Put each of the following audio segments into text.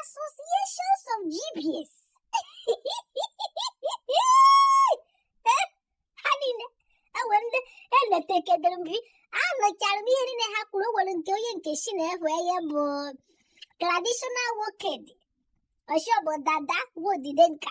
Associations of jibias. ha niile enwe ndị enetekedere m gị anụchara m ihe niile ha kwuru nwere otu onye nke sị na ihe ya bụ traditional woked ọshọbụ dada wodide nka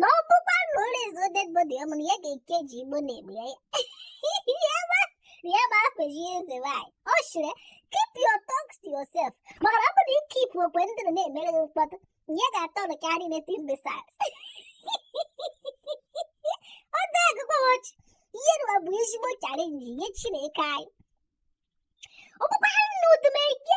na ọ bụkwa na o raise-uo dead body ya mana ya ga-eke ji igbo na-egbu ya ya ma akpeji eze nwanyị ọ sịrị keep your talks to yourself maka na ọ bụrụ na ị keep okwu ndị na na-emere gị mkpọtụ ya ga-atọ na karịa anything besides ọ dị agụkwa m ọchị ihe nwa bụ ezigbo challenge nye chineke anyị ọ bụkwa ha na odumeje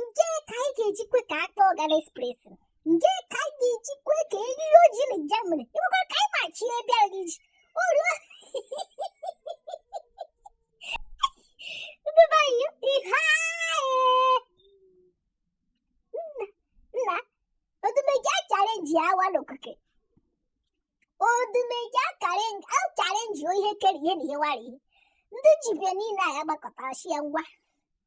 nke ka anyị ga-ejikwe ka akpa ọga na express nke ka anyị ga-ejikwe ka e riri ji na Germany ịbụkwa ka anyị machi ebe a iji orio ndị be anyị ihe nna odumeje achallenge awa n'okike odumeje achallenge ihe kere ihe na ihe wara ihe ndị jibia niile a ya gbakọtara sị ya ngwa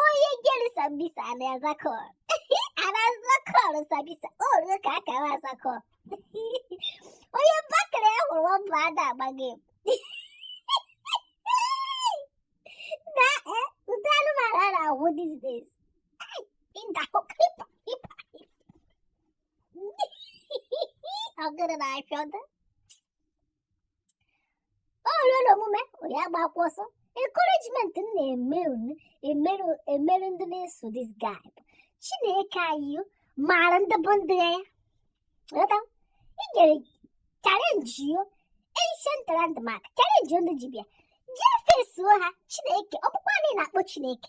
Onye jere sambisa a na-aza call. A na-aza call na sambisa. O ruo ka a ga-aza call. Onye bakere ya hụrụ ọbụ ada agbaghị m. Na e, ụdị anụmanụ a na-ahụ these days. Ai, Ịda hụ kripa, kripa. Ọ gụrụ na afịọda. o ruo n'omume onye agbakwa ọsọ encouragement m na-emerụ emerụ ndị na-eso this guy bụ chineke anyị maara ndị bụ ndị ya ghọta i jere challenge-uo ancient landmark challenge-uo ndị jibia jee face-uo ha chineke ọkpụkpọ anyị na-akpọ chineke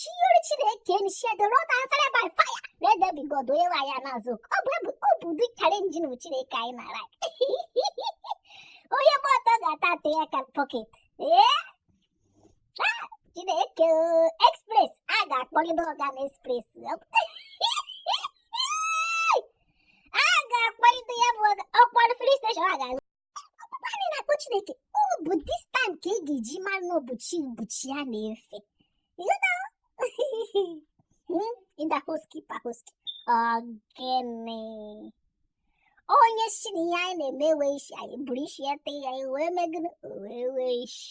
chinyere chineke anyị sị the Lord answered by fire let there be god onye nwe ya na-aza oku. ọ bụ ebu ọ bụ ụdị challenge chineke anyị na-alike onye gba ọtọ ga-ata ata aka na pocket ee Ah, chineke oo, express a ga-akpọgide ọga na express a ga-akpọgide ya bụ ọga ọkpọrọ police station a ga anyị na-akpọ chineke ọ bụ this time ka ị ga-eji mara na ọ bụ chi bụ chi a na-efe indahoski pahoski ọ gịnị onye sị na ihe anyị na-eme enwe isi anyị buru isi ya tee ya wee megide wee nwee isi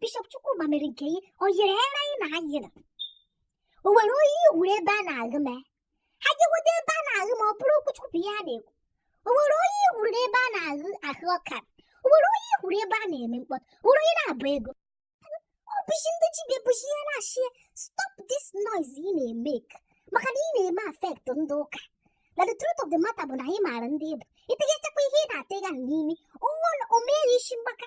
bishọp Chukwuma mere nke ihe ọ yiri ere anyị na ha yiri o nwere onye ị hụrụ ebe a na-aghụ mee ha jegodo ebe a na-aghụ ma ọ bụrụ okwuchukwu ihe a na-ekwu o nwere onye ị hụrụ n'ebe a na-aghụ ahụ ọka o nwere onye ị hụrụ ebe a na-eme mkpọtụ o nwere onye na-abụ ego ọ bụchi ndị ji ga-ebuchi ihe na-asị ya stop this noise ị na-emake maka na ị na-eme affect ndị ụka na the truth of the matter bụ na anyị maara ndị ị bụ ị tịgachakwa ihe ị na-atịga n'imi ụwa omeghe isi mgbaka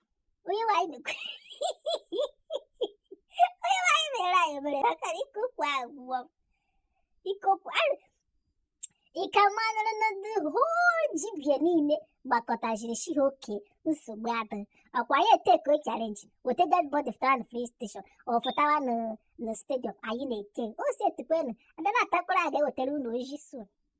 onye nwanyị mekwe onye nwanyị mere anyị mere maka na ikopụ agwụgwọ ikopụ ịka manụrụ na the whole jibịa niile gbakọtaziri shi ha okay nsogbu adị ọkwa ya etake challenge weta dead body fụtara na free station ọ fụtara na na stadium anyị na-eke o si etukwe na ndị na-atakwara a ga-ewetara ụlọ oji so